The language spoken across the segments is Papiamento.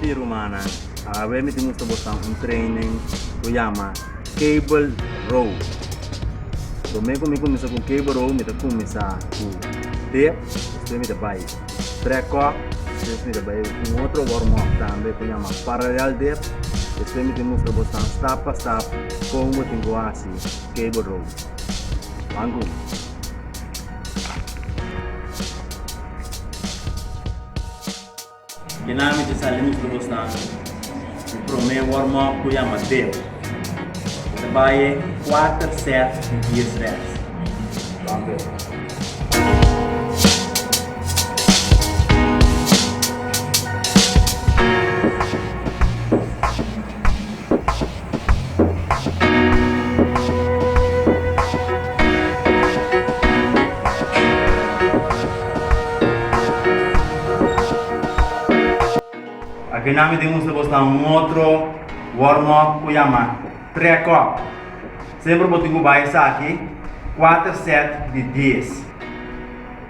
Sí, rumannan, awor mi tin usa boso un training cu yama cable row. So me cu mi cuminsa cu cable row mi ta cuminsa cu dip, despues mi ta bay track up, despues mi ta bay un otro warm up tambe cu yama parallel dip, despues mi tin mustra boso stap pa stap como bo tin cu haci cable row. One go. Dinami cu sa luz cu nos ta e prome warm-up cu yama Bip. Nos ta bay e cuater set di dies rest. Akina mi tin mustra bos nan un otro warm up ku yama Track Up. Semper bo tin ku bai esaki kuater sèt di dies.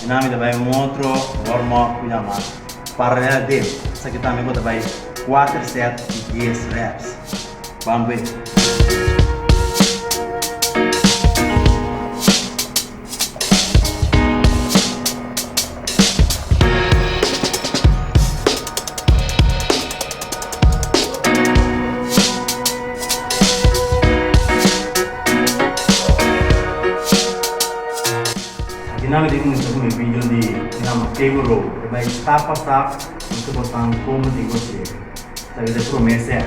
Mi nami ta bai un otro warm-up ku yama parallel dead. Esaki ta mi ku ta bai kuater sèt di dies reps. Bam pues. Final di un segun e video di e nama Cable Row e bai stap pa stap muestra por esnan como tin go sigue. Sa keda e prome step.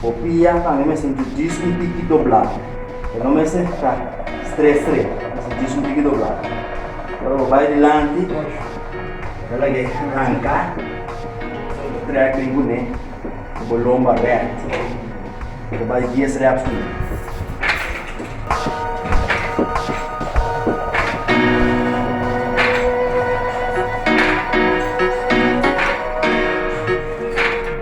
Bo pia tambe mester djis un tiki doblá. E no mester ta stré stré, mester djis un tiki doblá. Ora bo bai dilanti, ta lag'é ranká, bo trèk den kuné i bo lomba rèt. Bo bai dies reps kuné.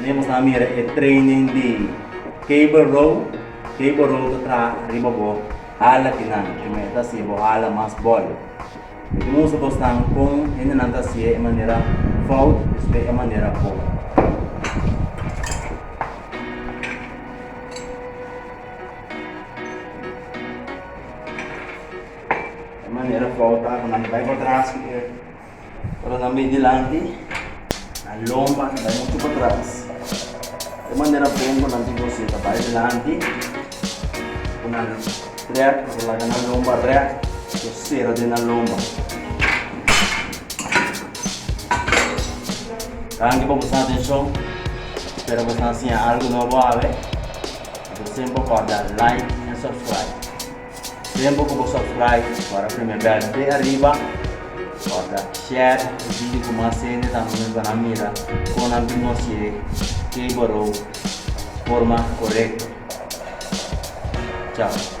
Lei bo sa mira e training di cable row, cable row ta traha riba bo hala ki nan prima e ta hasié bo hala mas bòl. E ta mustra bo snan kon hende nan ta hasié e manera fout despues e manera bon. E manera fout ta ku nan ta bai pa tras ku e ora nan bin dilanti, nan lomba, nan bai muchu pa tras. E manera bon ku nan tin ku hasi ta bai dilanti, ku nan trèk ku laga nan lomba rèk, ku sera den nan lomba. Tanti pa bo sa atenshon, spera bo sa siña algu nobo awe. Bo semper kòrda like en subscribe. Tempo ku bo sofrai para primer bes te ariba ora Cher i bini ku mas hende tambe nos bai na mira kon nan tin nosi'e kei barou forma korekto. Chao.